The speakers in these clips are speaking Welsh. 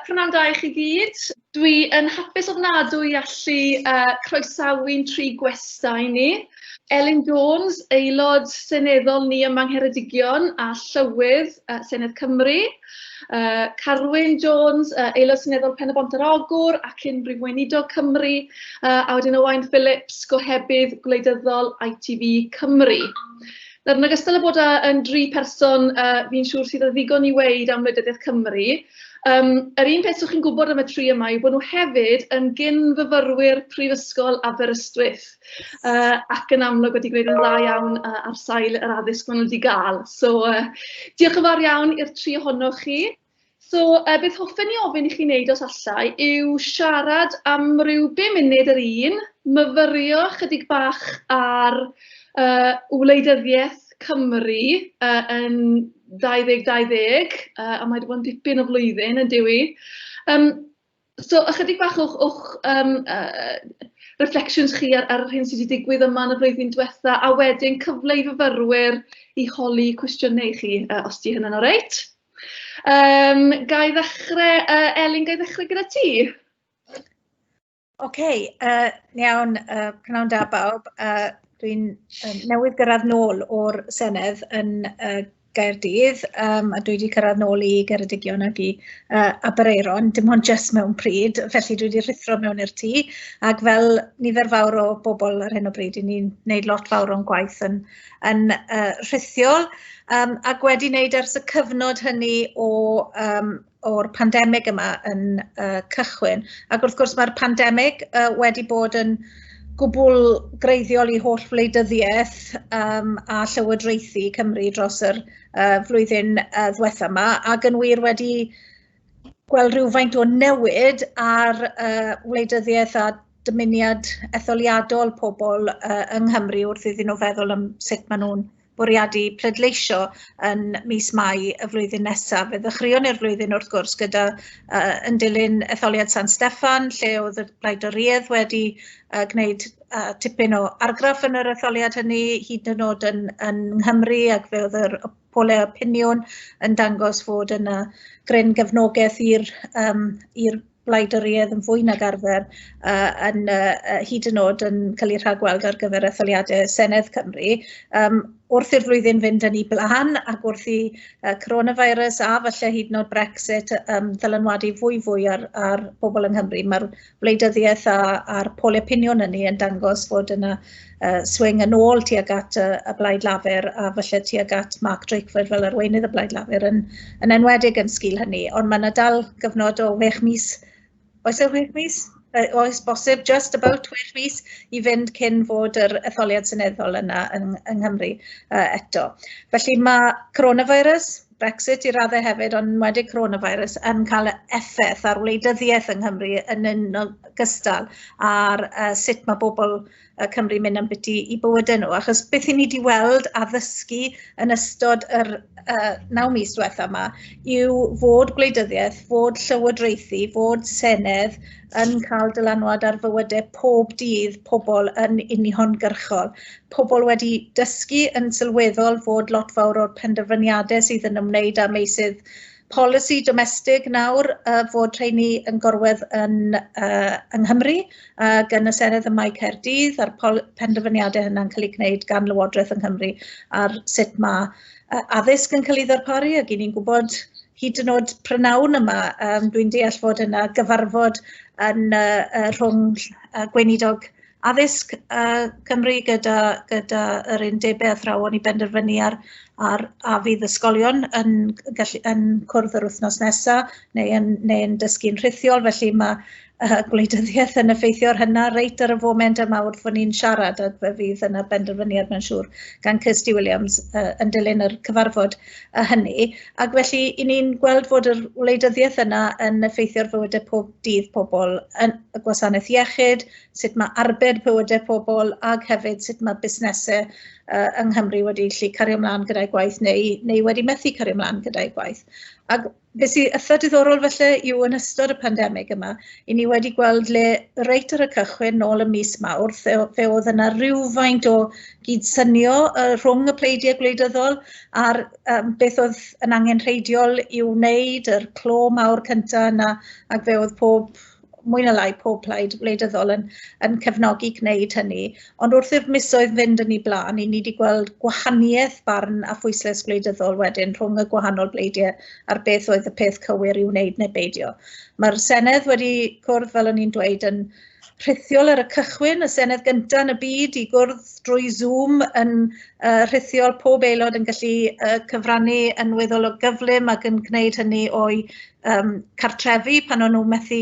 P'nawn da i chi gyd. Dwi yn hapus ofnadw i allu uh, croesawu'n tri gwesta i ni. Elin Jones, aelod seneddol ni ym Mangheredigion a Llywydd uh, Senedd Cymru. Uh, Carwyn Jones, uh, aelod seneddol Pen y Bont yr Ogwr ac unrhyw weinidog Cymru. Uh, a wedyn Owain Phillips, gohebydd gwleidyddol ITV Cymru. Nawr, yn ogystal â bod yn dri person uh, fi'n siŵr sydd o ddigon i weid am wleidyddiaeth Cymru, um, yr un peth sy'ch chi'n gwybod am y tri yma yw bod nhw hefyd yn gyn-fyfyrwyr Prifysgol Aberystwyth uh, ac yn amlwg wedi gwneud yn dda iawn uh, ar sail yr addysg maen nhw wedi gael. So, uh, diolch yn fawr iawn i'r tri ohonoch chi. So, yy beth hoffen i ofyn i chi wneud os allai yw siarad am ryw bum munud yr un, myfyrio chydig bach ar yy wleidyddiaeth Cymru yy yn 2020, yy a mae 'di bod yn dipyn o flwyddyn yndyw 'i? Yym So ychydig bach o'ch o'ch yym yy reflections chi ar ar yr hyn sy' 'di digwydd yma yn y flwyddyn diwetha', a wedyn cyfle i fyfyrwyr i holi cwestiynau i chi, yy os 'di hynna'n oreit? Yym ga i ddechre yy Elin ga i ddechre gyda ti? Ocê yy iawn yy pnawn da bawb a dwi'n yym newydd gyrradd nôl o'r Senedd yn yy Gaerdydd yym a dwi 'di cyrraedd nôl i Geredigion ac i yy Aberaeron dim ond jyst mewn pryd felly dwi 'di rhuthro mewn i'r tŷ ac fel nifer fawr o bobl ar hyn o bryd 'yn ni'n neud lot fawr o'n gwaith yn yn yy rhithiol yym ac wedi neud ers y cyfnod hynny o yym o'r pandemig yma yn uh, cychwyn. Ac wrth gwrs mae'r pandemig uh, wedi bod yn gwbl greiddiol i holl wleidyddiaeth um, a llywodraethu Cymru dros yr uh, flwyddyn uh, ddwetha yma ac yn wir wedi gweld rhywfaint o newid ar uh, wleidyddiaeth a dymuniad etholiadol pobl uh, yng Nghymru wrth iddyn nhw feddwl am sut maen nhw'n bwriadu pleidleisio yn mis Mai y flwyddyn nesaf. Fe ddechreuon ni'r flwyddyn wrth gwrs gyda uh, yn dilyn etholiad San Steffan lle oedd y blaidoriedd wedi uh, gwneud uh, tipyn o argraff yn yr etholiad hynny hyd yn oed yn, yn Nghymru ac fe oedd yr polau opinion yn dangos fod yna gryn gefnogaeth i'r um, wladwriaeth yn fwy nag arfer a yn uh, hyd yn oed yn cael ei rhagweld ar gyfer etholiadau Senedd Cymru. Um, wrth i'r flwyddyn fynd yn ei blaen ac wrth i uh, coronavirus a falle hyd yn oed Brexit um, ddylanwadu fwy fwy ar, ar pobl yng Nghymru, mae'r wleidyddiaeth a'r pol opinion yn ni yn dangos fod yna uh, swing yn ôl tuag at uh, y Blaid Lafur a falle tuag at Mark Drakeford fel arweinydd y Blaid Lafur yn, yn enwedig yn sgil hynny. Ond mae yna dal gyfnod o 6 mis, oes e 6 mis? Uh, oes bosib, just about 6 mis i fynd cyn fod yr etholiad seneddol yna yng, yng Nghymru uh, eto. Felly mae coronavirus, Brexit i raddau hefyd, ond wedi coronavirus, yn cael effaith ar wleidyddiaeth yng Nghymru yn un gystal ar uh, sut mae bobl y Cymru mynd am biti i bywydau nhw, achos beth i ni wedi weld a ddysgu yn ystod yr uh, naw mis diwetha yma yw fod gwleidyddiaeth, fod llywodraethu, fod senedd yn cael dylanwad ar fywydau pob dydd pobl yn uniongyrchol. Pobl wedi dysgu yn sylweddol fod lot fawr o'r penderfyniadau sydd yn ymwneud â meysydd polisi domestig nawr uh, fod rheini yn gorwedd yn, uh, yng Nghymru ac yn y Senedd ym Mae Caerdydd a'r penderfyniadau hynny'n cael eu gwneud gan Lywodraeth yng Nghymru ar sut mae uh, addysg yn cael ei ddarparu ac i ni'n gwybod hyd yn oed prynawn yma, um, dwi'n deall fod yna gyfarfod yn uh, uh, rhwng uh, gweinidog addysg uh, Cymru gyda, gyda yr undebau athrawon i benderfynu ar, ar a fydd ysgolion yn, gallu, yn cwrdd yr wythnos nesaf neu yn, neu yn dysgu'n rhithiol, felly mae uh, gwleidyddiaeth yn effeithio ar hynna reit ar y foment yma wrth fod ni'n siarad a fe fydd yna benderfyniad mae'n siŵr gan Kirsty Williams uh, yn dilyn yr cyfarfod uh, hynny. Ac felly, i ni'n gweld fod yr wleidyddiaeth yna yn effeithio'r fywydau pob dydd pobl, yn y gwasanaeth iechyd, sut mae arbed bywydau pobl ac hefyd sut mae busnesau uh, yng Nghymru wedi lli cario ymlaen gyda'i gwaith neu, neu wedi methu cario ymlaen gyda'i gwaith. Ac beth sy'n eitha diddorol felly yw yn ystod y pandemig yma, i ni wedi gweld le reit ar y cychwyn nôl y mis mawr, fe, fe oedd yna rhywfaint o gydsynio uh, rhwng y pleidiau gwleidyddol a'r um, beth oedd yn angen rheidiol i'w wneud, yr clo mawr cyntaf yna, ac fe oedd pob mwy na lai pob plaid wleidyddol yn, yn cefnogi gwneud hynny. Ond wrth i'r misoedd fynd yn ei blaen, i ni wedi gweld gwahaniaeth barn a phwyslais gwleidyddol wedyn rhwng y gwahanol bleidiau a'r beth oedd y peth cywir i wneud neu beidio. Mae'r Senedd wedi cwrdd, fel o'n i'n dweud, yn rhithiol ar y cychwyn, y Senedd gyntaf yn y byd i gwrdd drwy Zoom yn uh, rhithiol, pob aelod yn gallu uh, cyfrannu yn weddol o gyflym ac yn gwneud hynny o'i um, cartrefi pan o'n nhw methu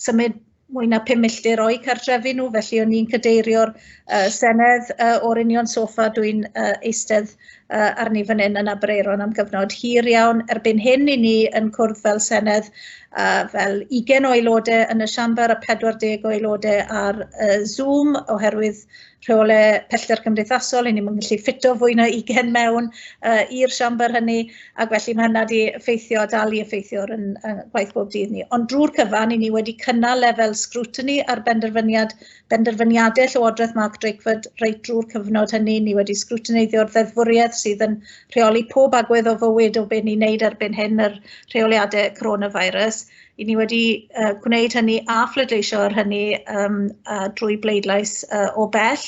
symud mwy na 5 milltir o'i cartrefi nhw, felly o'n i'n cadeirio'r uh, Senedd uh, o'r union sofa dwi'n uh, eistedd uh, arni fan hyn yn Abreiron am gyfnod hir iawn. Erbyn hyn i ni yn cwrdd fel Senedd uh, fel 20 o aelodau yn y siambar a 40 o aelodau ar uh, Zoom oherwydd rheole pellter cymdeithasol, hynny mae'n gallu ffito fwy na 20 mewn uh, i'r siambr hynny, ac felly mae hynna wedi effeithio, dal i effeithio yn uh, gwaith bob dydd ni. Ond drwy'r cyfan, i ni wedi cynnal lefel scrutiny ar benderfyniad, benderfyniadau Llywodraeth Mark Drakeford reit drwy'r cyfnod hynny. Ni wedi scrutineiddio'r ddeddfwriaeth sydd yn rheoli pob agwedd o fywyd o beth ni'n neud erbyn hyn, yr rheoliadau coronavirus. i ni wedi uh, gwneud hynny a phledleisio ar hynny um, uh, drwy bleidlais uh, o bell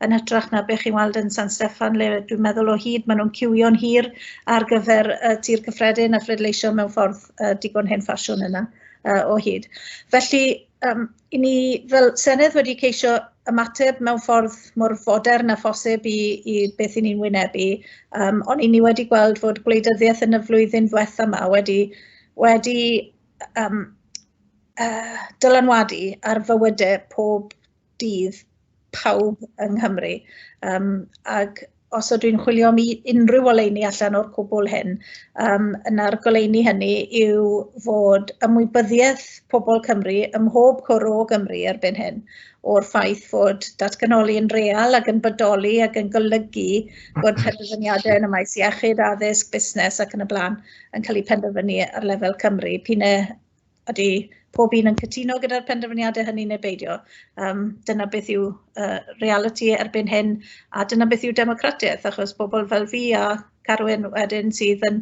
yn hytrach na beth chi'n weld yn San Steffan le dwi'n meddwl o hyd maen nhw'n ciwio'n hir ar gyfer uh, tir cyffredin a phledleisio mewn ffordd uh, digon hen ffasiwn yna uh, o hyd. Felly um, I ni fel Senedd wedi ceisio ymateb mewn ffordd mor fodern a phosib i, i beth i ni'n wynebu, um, ond i ni wedi gweld fod gwleidyddiaeth yn y flwyddyn ddiwetha yma wedi, wedi um, uh, dylanwadu ar fywydau pob dydd pawb yng Nghymru. Um, ac os ydw i'n chwilio am unrhyw oleuni allan o'r cwbl hyn, um, yna'r goleuni hynny yw fod ymwybyddiaeth pobl Cymru ym mhob cwr o Gymru erbyn hyn o'r ffaith fod datganoli yn real ac yn bodoli ac yn golygu bod penderfyniadau yn y maes iechyd, addysg, busnes ac yn y blaen yn cael eu penderfynu ar lefel Cymru. P'un e ydy pob un yn cytuno gyda'r penderfyniadau hynny neu beidio. Um, dyna beth yw uh, reality erbyn hyn a dyna beth yw democratiaeth achos bobl fel fi a Carwyn wedyn sydd yn,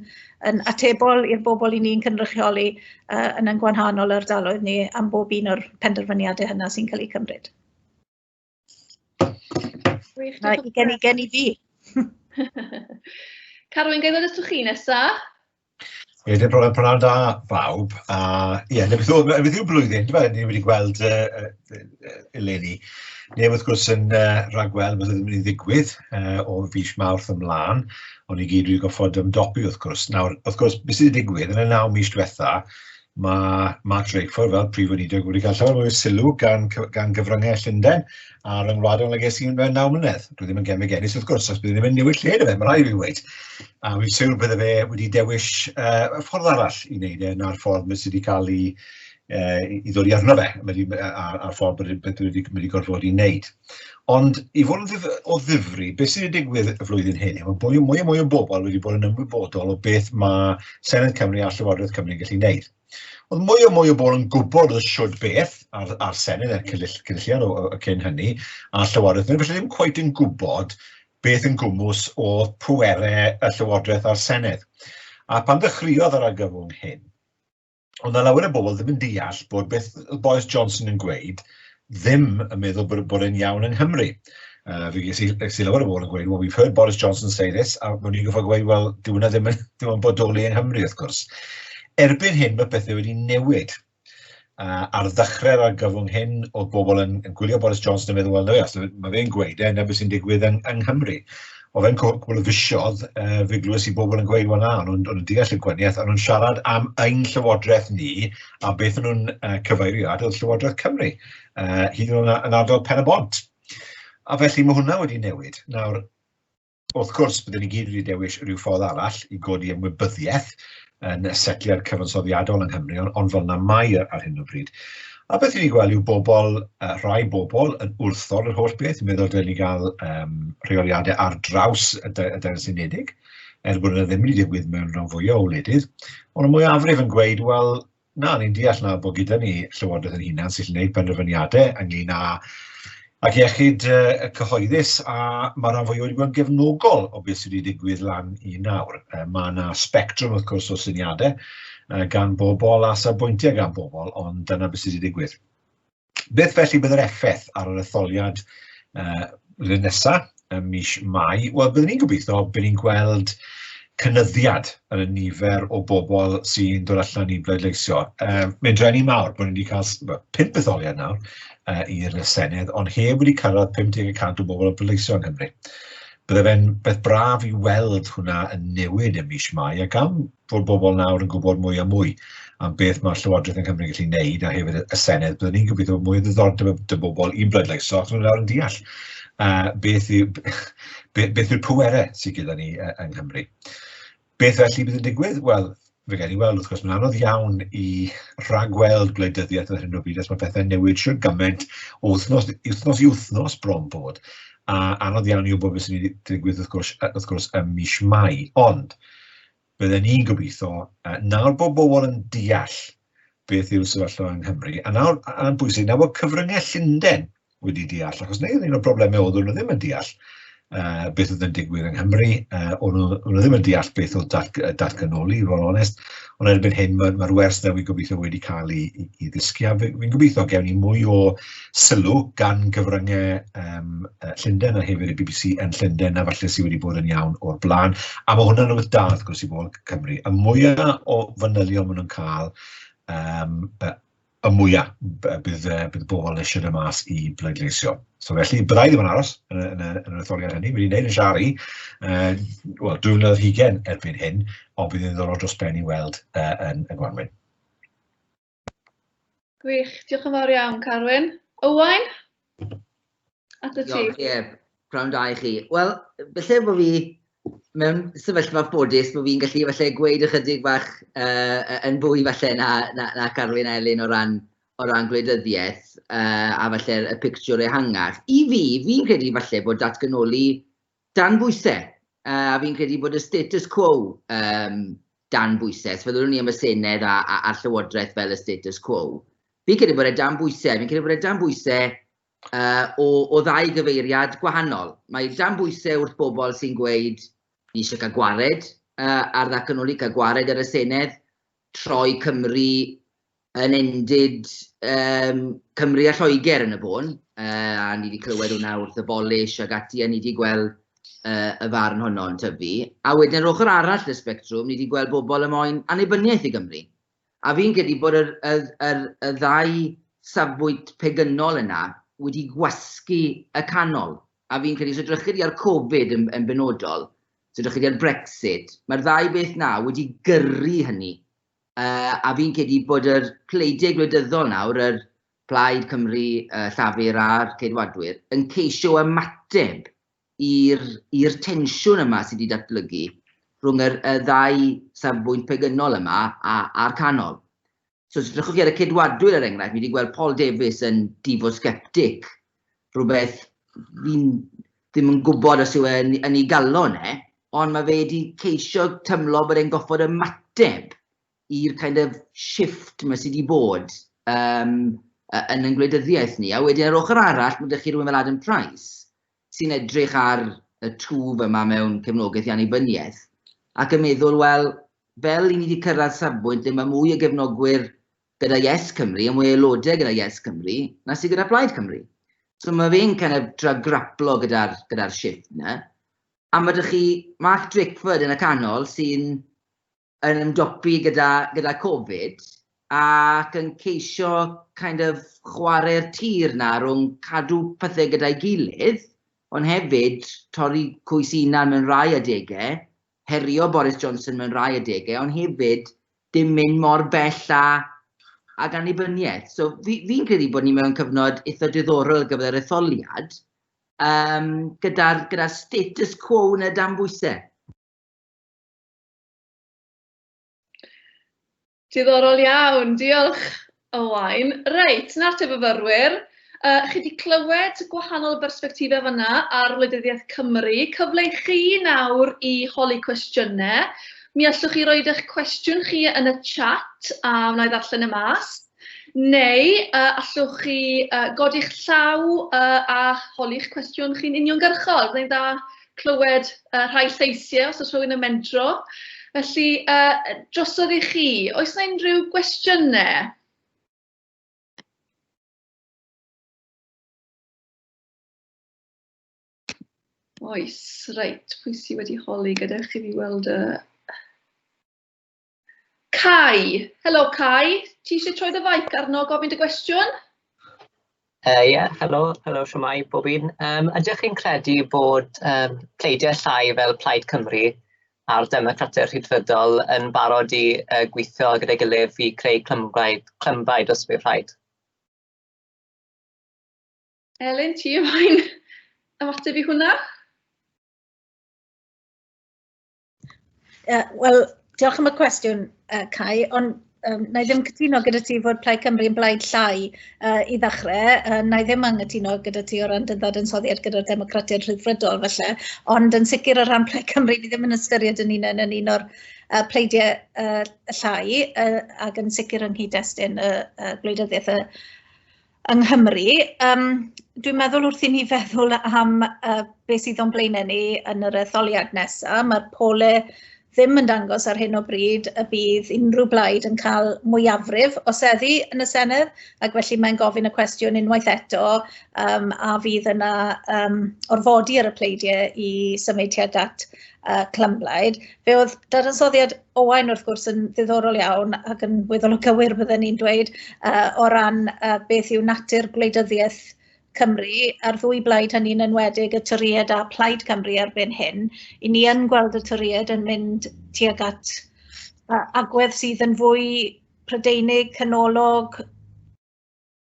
yn atebol i'r bobl i ni'n cynrychioli uh, yn yn gwanhanol ardaloedd ni am bob un o'r penderfyniadau hynna sy'n cael eu cymryd. Gwych, Na, i gen i, gen i fi. Carwyn, gael ddod atoch chi nesa? Ie, dim problem, prynawn da bawb. A ie, yeah, beth yw'r beth yw blwyddyn, dwi'n meddwl, ni wedi gweld uh, uh, eleni. Neu wrth gwrs yn uh, rhagweld bod ddim yn ei ddigwydd uh, o fis mawrth ymlaen, ond i gyd wedi goffod ymdopi wrth gwrs. Nawr, wrth gwrs, beth sydd wedi digwydd yn y naw mis diwetha, Mae Mark Drakeford fel Prif Weinidog wedi cael llawer mwy o sylw gan cy- gan gyfryngau Llundain a ryngwladol nag es i mewn naw mlynedd. Dwi ddim yn gemeg ennill wrth gwrs, achos bydd ddim yn newid lle na fe, mae rhaid i fi ddweud. A fi'n siŵr bydde fe wedi dewis uh, y ffordd arall i wneud e na'r ffordd mae sydd wedi cael ei, uh, i ddod i arno fe, a'r ffordd bod wedi, wedi gorfod i wneud. Ond i fod yn ddif- o ddifri, beth sydd wedi digwydd y flwyddyn hyn yw bod mwy a mwy o bobl wedi bod yn ymwybodol o beth mae Senedd Cymru a Llywodraeth Cymru yn gallu gwneud. Oedd mwy o mwy o bobl yn gwybod y siwrd beth a'r, ar Senedd a'r cynulliad o, o, cyn hynny, a Llywodraeth Cymru, felly ddim cweit yn gwybod beth yn gwmws o pwerau y Llywodraeth a'r Senedd. A pan ddechreuodd yr argyfwng hyn, Ond na lawer o bobl ddim yn deall bod beth y Boris Johnson yn gweud ddim yn meddwl bod, bod e'n iawn yng Nghymru. Uh, fi ges i, ges i lawer o bobl yn gweud, well, we've heard Boris Johnson say this, a mae'n i'n goffa gweud, well, dyw hwnna ddim yn bodoli yng Nghymru, wrth gwrs. Erbyn hyn, mae pethau wedi newid. Uh, ar ddechrau'r argyfwng hyn, oedd bobl yn, yn gwylio Boris Johnson yn meddwl, well, no, yes, mae fe'n gweud e, na beth sy'n digwydd yng, yng Nghymru. O fe'n cwrc, wel y fisiodd, uh, fe glywes i bobl yn gweud, wel na, o'n nhw'n deall y gwaniaeth, o'n nhw'n siarad am ein llywodraeth ni, a beth o'n nhw'n uh, cyfeirio at oedd llywodraeth Cymru, uh, hyd yn oed yn ardal Pen y Bont. A felly mae hwnna wedi newid. Nawr, wrth gwrs, byddwn ni gyd wedi dewis rhyw ffordd arall i godi ymwybyddiaeth, yn y setliad cyfansoddiadol yng Nghymru, ond, ond fel yna mae e ar hyn o bryd. A beth ni'n gweld yw bobl, uh, rhai bobl yn wrthod yr holl beth, yn meddwl dyn ni gael um, rheoliadau ar draws y, y Deyrnas Unedig, er bod yna ddim wedi digwydd mewn rhan fwyaf o wledydd, ond y mwyafrif yn gweud, wel, Na, ni'n deall na bod gyda ni Llywodraeth ein hunan sy'n gallu gwneud penderfyniadau ynglyn â ac iechyd y cyhoeddus a mae rhan fwy wedi bod yn gefnogol o beth sydd wedi digwydd lan i nawr. Mae yna spectrwm wrth gwrs o syniadau gan bobl a safbwyntiau gan bobl, ond dyna beth sydd wedi digwydd. Beth felly bydd yr effaith ar yr etholiad uh, rydyn nesaf, ym mis Mai? Wel, byddwn ni'n gobeithio, byddwn ni'n gweld cynyddiad yn y nifer o bobl sy'n dod allan i bleidleisio. Um, Mae'n drenu mawr bod ni wedi cael well, pimp etholiad nawr uh, i'r Senedd, ond heb wedi cyrraedd 50% o bobl yn bleidleisio yng Nghymru. Bydde fe'n beth braf i weld hwnna yn newid ym mis Mai, ac am fod bobl nawr yn gwybod mwy a mwy am beth mae'r Llywodraeth yn Cymru'n gallu wneud, a hefyd y Senedd, byddwn ni'n gobeithio bod mwy o ddiddordeb y dy bobl i'n bleidleisio, achos maen nawr yn deall uh, beth yw'r pwerau sydd gyda ni uh, yng Nghymru. Beth felly bydd yn digwydd? Wel, fe gael ei weld, wrth gwrs, mae'n anodd iawn i rhagweld gwleidyddiaeth ar hyn o bryd os mae pethau'n newid siwr gymaint o wythnos, wythnos i wythnos bron bod. A anodd iawn i wybod beth sy'n ei ddigwydd wrth gwrs, wrth gwrs ym mis Mai. Ond, bydden ni'n gobeithio, nawr bod bobl yn deall beth yw'r sefyllfa yng Nghymru, a nawr, a'n bwysig, nawr bod cyfryngau Llundain wedi deall, achos neu un o'r problemau oedd nhw ddim yn deall uh, beth oedd yn digwydd yng Nghymru, uh, o'n nhw ddim yn deall beth oedd dat, datganoli, i fod onest, ond erbyn hyn mae'r ma wers newydd gobeithio wedi cael ei, ei, ei ddisgio. Fi'n gobeithio gewn ni mwy o sylw gan gyfryngau um, Llundain a hefyd y BBC yn Llundain a falle sydd wedi bod yn iawn o'r blaen. A mae hwnna'n rhywbeth da, wrth gwrs, i bobl Cymru. Y mwyaf o fanylion maen nhw'n cael, um, y mwya bydd y bobl eisiau dod mas i bleidleisio. So felly, byddai ddim yn aros yn yr etholiad hynny. Wedi wneud yn siar i, wel, dwi'n mynd o'r hugen erbyn hyn, ond bydd yn ddorol dros ben i weld yn y gwanwyn. Gwych, diolch yn fawr iawn, Carwyn. Owain? At y ti. Ie, prawn da i chi. Wel, felly bod fi mewn sefyllfa ffodus bod fi'n gallu falle gweud ychydig bach uh, yn fwy falle na, na, na Carwyn a Elin o ran, o ran gwleidyddiaeth uh, a falle y pictiwr ehangach. I fi, fi'n credu falle bod datganoli dan bwysau uh, a fi'n credu bod y status quo um, dan bwysau. So, fyddwn ni am y Senedd a, a, a Llywodraeth fel y status quo. Fi'n credu bod e dan bwysau, fi'n credu bod e dan bwysau o, o ddau gyfeiriad gwahanol. Mae dan bwysau wrth bobl sy'n gweud, ni eisiau cael gwared uh, ar ddatganoli, cael gwared ar y Senedd, troi Cymru yn endid um, Cymru a Lloegr yn y bôn, uh, a ni wedi clywed hwnna wrth y bolish ag ati, a ni wedi gweld uh, y farn honno'n tyfu. A wedyn yr ochr arall y spectrwm, ni wedi gweld bobl y moyn annibyniaeth i Gymru. A fi'n credu bod yr, yr, yr, y ddau safbwynt pegynol yna wedi gwasgu y canol. A fi'n credu, os edrychir chi ar Covid yn, yn benodol, os edrychir chi ar Brexit, mae'r ddau beth na wedi gyrru hynny. Uh, a fi'n credu bod yr pleidiau gwleidyddol nawr, yr Plaid Cymru, uh, Llafur a'r Ceidwadwyr, yn ceisio ymateb i'r i'r tensiwn yma sydd wedi datblygu rhwng yr y ddau safbwynt pegynol yma a a'r canol. So os edrychwch chi ar y ceidwadwyr er enghraifft, mi wedi gweld Paul Davies yn difosgeptic, rhywbeth fi'n ddim yn gwybod os yw e yn, yn ei galon e, ond mae fe wedi ceisio tymlo bod e'n goffod ymateb i'r kind of shift mae sydd wedi bod um, yn yn gwleidyddiaeth ni. A wedyn ar ochr arall, mae ydych chi rhywun fel Adam Price, sy'n edrych ar y twf yma mewn cefnogaeth i annibyniaeth, ac yn meddwl, wel, fel i ni wedi cyrraedd safbwynt lle mae mwy o gefnogwyr gyda Yes Cymru a mwy o aelodau gyda Yes Cymru na sydd gyda Plaid Cymru. So mae fe'n kind of tra graplo gyda'r gyda shift yna. A mae ydych chi Mark Drakeford yn y canol sy'n yn ymdopi gyda, gyda Covid ac yn ceisio kind of chwarae'r tir na rhwng cadw pethau gyda'i gilydd, ond hefyd torri coes unan mewn rhai adegau, herio Boris Johnson mewn rhai adegau, ond hefyd dim mynd mor bell a ag annibyniaeth. So fi'n fi credu bod ni mewn cyfnod eitha diddorol gyda'r etholiad, um, gyda'r gyda status quo yn y dan bwysau. Diddorol iawn, diolch Owain. Reit, 'na'r te fyfyrwyr. Uh, chi wedi clywed gwahanol bersbectifau fanna ar wleidyddiaeth Cymru. Cyfle i chi nawr i holi cwestiynau. Mi allwch chi roed eich cwestiwn chi yn y chat a wna i ddarllen y mas. Neu uh, allwch chi uh, godi'ch llaw uh, a holi'ch cwestiwn chi'n uniongyrchol. Rwy'n dda clywed yy rhai lleisiau os oes rhywun yn mentro. Felly yy drosodd i chi, oes 'na unrhyw gwestiynau? Oes, reit, pwy sydd wedi holi gyda chi i weld y Cai. Helo Cai, ti eisiau troi dy faic arno gofyn dy gwestiwn? Ie, uh, yeah, helo, helo siwmai bob un. Um, ydych chi'n credu bod um, pleidiau llai fel Plaid Cymru a'r Democratau Rhydfydol yn barod i uh, gweithio gyda'i gilydd i creu clymblaid, clymblaid os bydd rhaid? Elin, ti ymlaen ymateb i hwnna? Uh, Wel, diolch am y cwestiwn, uh, Cai, ond um, na i ddim cytuno gyda ti fod Plaid Cymru yn blaid llai uh, i ddechrau. Uh, na i ddim anghytuno gyda ti o ran dyddod yn soddiad gyda'r democratiaid rhyddfrydol felly. Ond yn sicr o ran Plaid Cymru, ni ddim yn ystyried yn un yn un o'r uh, pleidiau uh, llai uh, ac yn sicr yng nghyd-destun y uh, gwleidyddiaeth y yng Nghymru. Yym dwi'n meddwl wrth i ni feddwl am uh, beth sydd o'n blaenau ni yn yr etholiad nesaf, mae'r pole ddim yn dangos ar hyn o bryd y bydd unrhyw blaid yn cael mwyafrif o seddi yn y Senedd, ac felly mae'n gofyn y cwestiwn unwaith eto um, a fydd yna um, orfodi ar y pleidiau i symud tuag at uh, clymblaid. Fe oedd dadansoddiad Owain wrth gwrs yn ddiddorol iawn ac yn weddol o gywir bydden ni'n dweud uh, o ran uh, beth yw natur gwleidyddiaeth Cymru a'r ddwy blaid hynny'n enwedig y Tyried a Plaid Cymru erbyn hyn. I ni yn gweld y Tyried yn mynd tuag at uh, agwedd sydd yn fwy Prydeinig, canolog,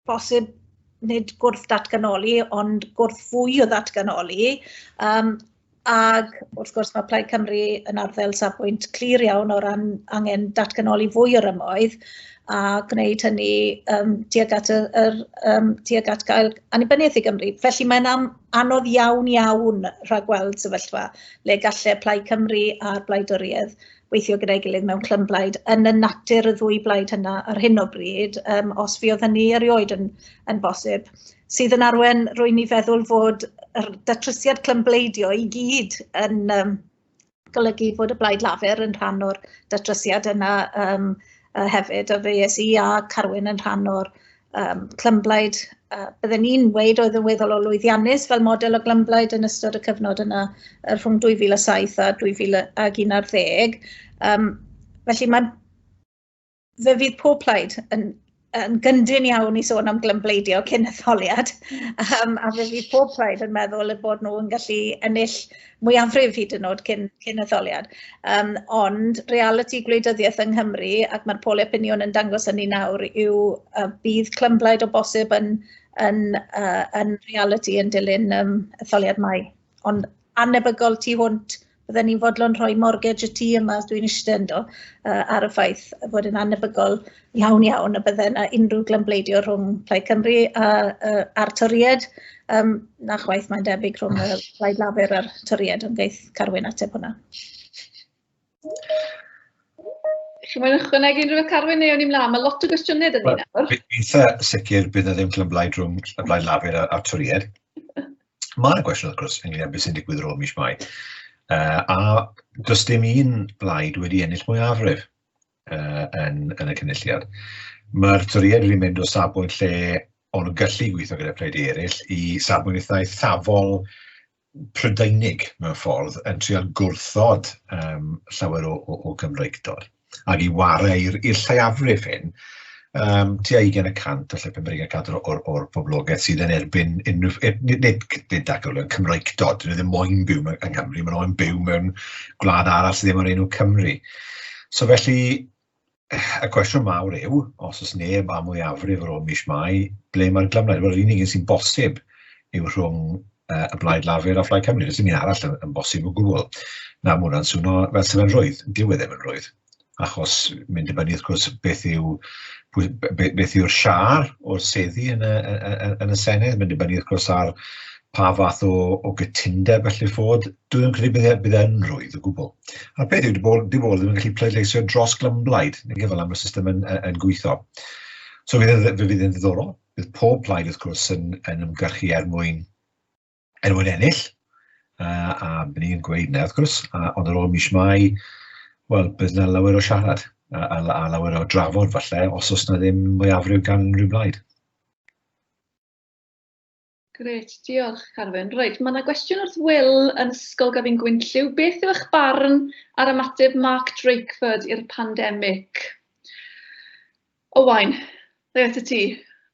bosib nid gwrth datganoli, ond gwrth fwy o ddatganoli. Um, ac wrth gwrs mae Plaid Cymru yn arddel safbwynt clir iawn o ran angen datganoli fwy o'r ymoedd a gwneud hynny um, tuag, at y, er, um, tuag at gael annibyniaeth i Gymru. Felly mae'n am, anodd iawn iawn rhagweld sefyllfa le gallai Plaid Cymru a'r Blaid Oriedd weithio gyda'i gilydd mewn clymblaid yn y natur y ddwy blaid hynna ar hyn o bryd, um, os fi oedd hynny erioed yn, yn bosib, sydd yn arwen rwy'n i feddwl fod yr datrysiad clymbleidio i gyd yn um, golygu bod y blaid lafer yn rhan o'r datrysiad yna um, hefyd, a fe es i a Carwyn yn rhan o'r um, clymblaid, uh, bydden ni'n weid oedd yn weddol o lwyddiannus fel model o glymblaid yn ystod y cyfnod yna rhwng 2007 a 2011. Um, felly mae fe fydd pob plaid yn, yn gyndyn iawn i sôn am glymbleidio cyn etholiad, um, a fe fydd pob plaid yn meddwl y bod nhw yn gallu ennill mwyafrif hyd yn oed cyn cyn etholiad. Um, ond reality gwleidyddiaeth yng Nghymru, ac mae'r poli opinion yn dangos hynny nawr, yw uh, bydd clymblaid o bosib yn, yn, uh, yn reality yn dilyn um, etholiad mai. Ond anebygol tu hwnt, bydden ni'n fodlon rhoi mortgage y tŷ yma, dwi'n eistedd ynddo, uh, ar y ffaith fod yn anebygol iawn iawn y bydde yna unrhyw glymbleidio rhwng Plaid Cymru a, a, a'r Toried. Um, na chwaith mae'n debyg rhwng y Plaid Lafur a'r Toried, ond geith Carwyn ateb hwnna. Chi'n mwyn ychwanegu unrhyw beth Carwyn neu o'n i'n mlaen? Mae lot o gwestiynau dyn ni nawr. Eitha sicr bydd na ddim clymblaid rhwng y Blaid Lafur a'r Toried. Mae'n gwestiwn wrth gwrs ynglyn â beth sy'n digwydd rôl mis mai. Uh, a does dim un blaid wedi ennill mwyafrif. yn y Cynulliad. Mae'r toriad wedi mynd o safbwynt lle o'n nhw'n gallu gweithio gyda phledi eraill i safbwynt eitha eithafol Prydeinig mewn ffordd yn trio gwrthod um, llawer o, o, o Gymreigdod ac i warau i'r lleiafrif hyn, um, tua 20 y cant o lle Pembreg a cadw'r o'r, or poblogaeth sydd yn erbyn unrhyw... Er, nid, nid, nid ac yn Cymreictod, dyn nhw ddim moyn byw yng Nghymru, maen nhw'n byw mewn gwlad arall sydd ddim o'r enw Cymru. So felly, y cwestiwn mawr yw, os oes neb am mwyafrif ar ôl mis mai, ble mae'r glyfnau? Wel, yr unig un sy'n bosib yw rhwng uh, y Blaid Lafur a Phlaid Cymru. Does dim un arall yn, yn bosib o gwbl. Na, mae hwnna'n swnio fel sef yn rhwydd. Dyw e ddim yn rhwydd. achos mae'n dibynnu wrth gwrs beth yw pwy- be- be- beth yw'r siâr o'r seddi yn y y y y yn y Senedd, mae'n dibynnu wrth gwrs ar pa fath o o gytundeb all fod, dwi'm yn credu bydd e bydd e'n rwydd o gwbwl. A'r peth yw, 'di bobl 'di bobl ddim yn gallu pleidleisio dros glymblaid, nage, fel fel mae'r system yn yn yn gweitho. So fe fydd e fe fydd e'n ddiddorol, bydd pob plaid wrth gwrs yn yn ymgyrchu er mwyn er mwyn ennill, uh, a byddwn ni'n gweud na wrth gwrs, a, ond ar ôl mis mai, wel, bydd yna lawer o siarad a, a, a lawer o drafod falle, os oes yna ddim mwyafrif gan unrhyw blaid. Gret, diolch Carwyn. Reit, mae yna gwestiwn wrth Will yn Ysgol Gafin Gwynllyw. Beth yw eich barn ar ymateb Mark Drakeford i'r pandemig? Owain, ble atat ti?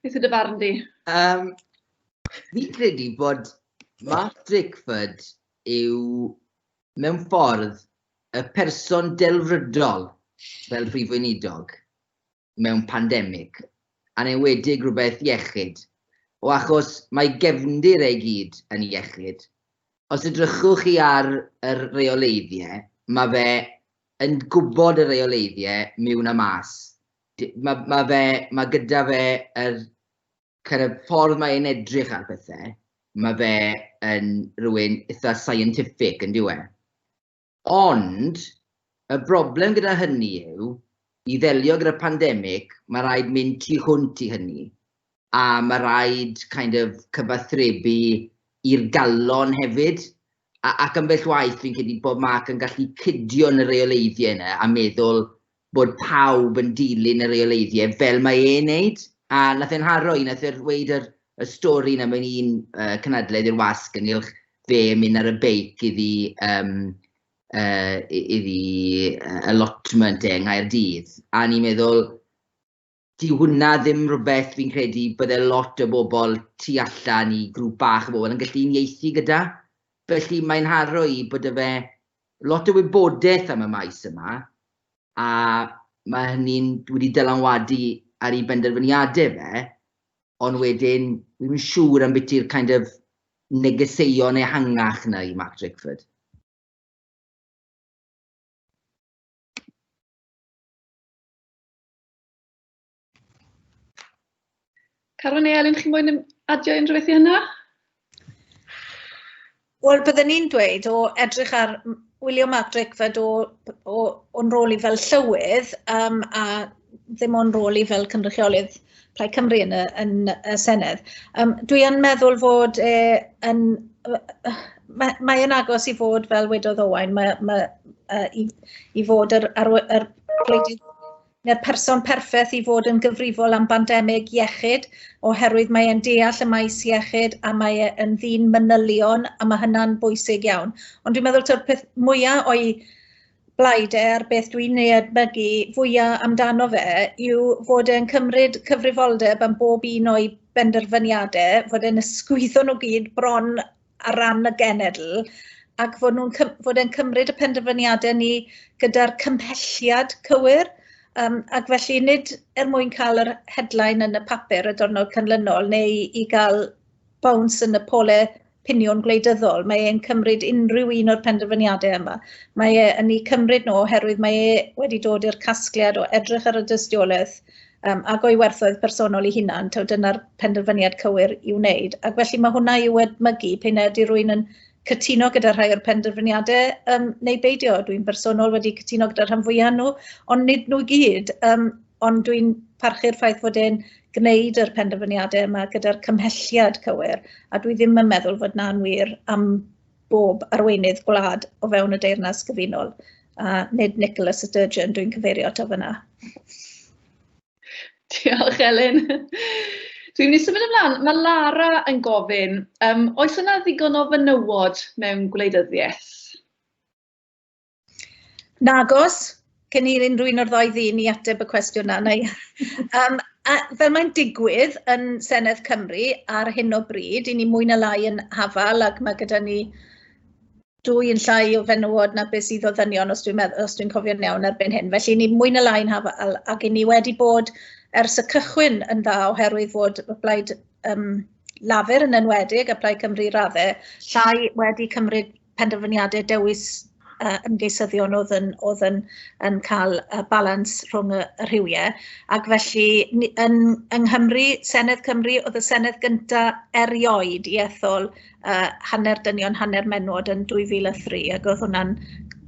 Beth yw dy farn di? Um, fi'n credu bod Mark Drakeford yw mewn ffordd y person delfrydol fel prif weinidog mewn pandemig, a'n enwedig rhywbeth iechyd. O achos mae gefndir ei gyd yn iechyd. Os edrychwch chi ar yr reoleiddiau, mae fe yn gwybod y reoleiddiau miwn a mas. Mae ma fe, mae gyda fe yr kind of, ffordd mae e'n edrych ar bethau, mae fe yn rhywun eitha scientific yn diwe. Ond, y broblem gyda hynny yw, i ddelio gyda pandemig, mae rhaid mynd tu hwnt i hynny. A mae rhaid kind of, cyfathrebu i'r galon hefyd. A, ac ambell waith fi'n credu bod Mark yn gallu cydio yn y reoleiddiau yna a meddwl bod pawb yn dilyn y reoleiddiau fel mae e'n neud. A nath e'n haro i, nath e weud yr, y stori yna mewn un uh, cynadledd i'r wasg ynghylch fe yn mynd ar y beic iddi, um, uh, iddi uh, allotment e yng Nghaerdydd. A ni'n meddwl, Dyw hwnna ddim rhywbeth fi'n credu bydde lot o bobl tu allan i grŵp bach o bobl yn gallu unieithu gyda. Felly mae'n haro i bod 'da fe lot o wybodaeth am y maes yma, a mae hynny'n wedi dylanwadu ar ei benderfyniadau fe, ond wedyn, fi ddim yn siŵr ambiti'r kind of negeseuon ehangach 'na i Mark Drakeford. Caron neu Elin, chi'n mwyn adio unrhyw beth i hynna? Wel, byddwn ni'n dweud o edrych ar wylio Mark Drakeford o, o, o'n rôl i fel llywydd um, a ddim o'n rôl i fel cynrychiolydd Plaid Cymru yn y, yn y Senedd. Um, dwi yn meddwl fod e, yn, mae, mae yn agos i fod fel wedodd Owain, mae, mae, uh, i, i fod ar, ar, ar gwledydd neu'r person perffaith i fod yn gyfrifol am bandemig iechyd oherwydd mae e'n deall y maes iechyd a mae e'n ddyn manylion a mae hynna'n bwysig iawn. Ond dwi'n meddwl ta'r peth mwyaf o'i blaid e a'r beth dwi'n ei edmygu fwyaf amdano fe yw fod e'n cymryd cyfrifoldeb am bob un o'i benderfyniadau, fod e'n ysgwyddo nhw gyd bron ar ran y genedl ac fod nhw'n fod e'n cymryd y penderfyniadau ni gyda'r cymhelliad cywir um, ac felly nid er mwyn cael yr headline yn y papur y diwrnod canlynol neu i gael bounce yn y pole piniwn gwleidyddol. Mae e'n cymryd unrhyw un o'r penderfyniadau yma. Mae e yn ei cymryd nhw oherwydd mae e wedi dod i'r casgliad o edrych ar y dystiolaeth um, ac o'i werthoedd personol ei hunan, taw dyna'r penderfyniad cywir i'w wneud. Ac felly mae hwnna i'w edmygu pei'n ydy rwy'n yn cytuno gyda rhai o'r penderfyniadau um, neu beidio. Dwi'n bersonol wedi cytuno gyda'r rhan fwyaf nhw, ond nid nhw gyd. Um, ond dwi'n parchu'r ffaith fod e'n gwneud yr penderfyniadau yma gyda'r cymhelliad cywir, a dwi ddim yn meddwl fod na'n wir am bob arweinydd gwlad o fewn y Deyrnas Gyfunol, a nid Nicola Sturgeon dwi'n cyfeirio ato fyna. Diolch, Elin. Dwi'n mynd i symud ymlaen. Mae Lara yn gofyn, um, oes yna ddigon o fenywod mewn gwleidyddiaeth? Nagos, cyn i unrhyw un o'r ddau ddyn i ateb y cwestiwn yna, neu... um, a, fel mae'n digwydd yn Senedd Cymru ar hyn o bryd, i ni mwy na lai yn hafal ac mae gyda ni dwy yn llai o fenywod na beth sydd o ddynion os dwi'n meddwl os dwi'n cofio'n iawn erbyn hyn. Felly ni mwy na lai'n hafal ac i ni wedi bod ers y cychwyn yn dda oherwydd fod y blaid um, Lafur yn enwedig a Plaid Cymru raddau llai wedi cymryd penderfyniadau dewis yy ymgeisyddion oedd yn oedd yn yn cael y balans rhwng y, y rhywiau ac felly ni, yn yng Nghymru Senedd Cymru oedd y Senedd gynta erioed i ethol uh, hanner dynion hanner menwod yn 2003 ac oedd hwnna'n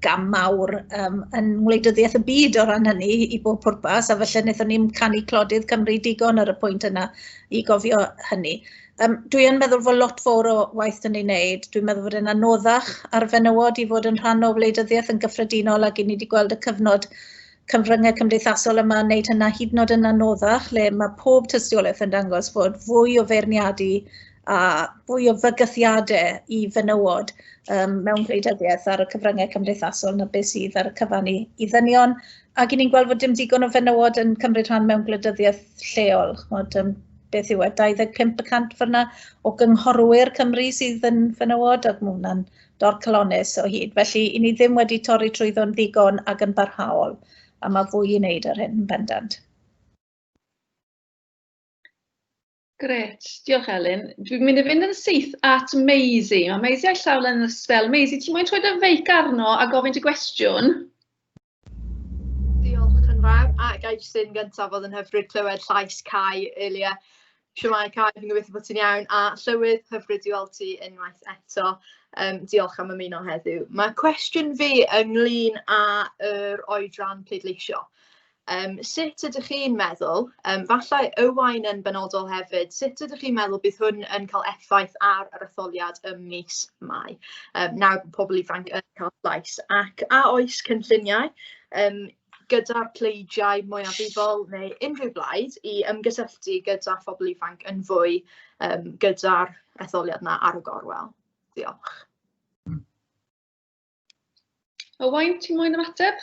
gam mawr um, yn ngwleidyddiaeth y byd o ran hynny i bob pwrpas a felly wnaethon ni'n canu clodydd Cymru digon ar y pwynt yna i gofio hynny. Um, dwi yn meddwl fod lot fawr o waith yn ei wneud. Dwi'n meddwl fod e'n anoddach ar fenywod i fod yn rhan o wleidyddiaeth yn gyffredinol ac i ni wedi gweld y cyfnod cyfryngau cymdeithasol yma yn wneud hynna hyd yn oed yn anoddach lle mae pob tystiolaeth yn dangos fod fwy o feirniadu a fwy o fygythiadau i fenywod um, mewn gwleidyddiaeth ar y cyfryngau cymdeithasol na beth sydd ar y cyfan i, i ddynion ac i ni'n gweld fod dim digon o fenywod yn cymryd rhan mewn gwleidyddiaeth lleol. Chmod, um, beth yw e, 25 y cant fyna o gynghorwyr Cymru sydd yn fenywod, ac mae hwnna'n dorcalonnus o hyd. Felly, i ni ddim wedi torri trwyddo'n ddigon ac yn barhaol, a mae fwy i wneud ar hyn yn bendant. Gret, diolch Elin. Dwi'n mynd i fynd yn syth at Maisie. Mae Maisie a'i llaw yn y sbel. Maisie, ti'n mwyn trwy dy feic arno a gofyn dy gwestiwn? Diolch yn fawr a ga i jyst un gyntaf oedd yn hyfryd clywed llais Cai earlier. Shwmae Cai, fi'n gobeithio bod ti'n iawn a Llywydd, hyfryd i weld ti unwaith eto. Um, diolch am ymuno heddiw. Mae cwestiwn fi ynglyn â'r er oedran pleidleisio. Um, sut ydych chi'n meddwl, um, falle Ywain yn benodol hefyd, sut ydych chi'n meddwl bydd hwn yn cael effaith ar yr etholiad ym mis Mai? Um, nawr bod pobl ifanc yn cael llais, ac a oes cynlluniau yym gyda'r pleidiau mwyafrifol neu unrhyw blaid i ymgysylltu gyda phobl ifanc yn fwy yym gyda'r etholiad 'na ar y gorwel? Diolch. Owain, ti moyn ymateb?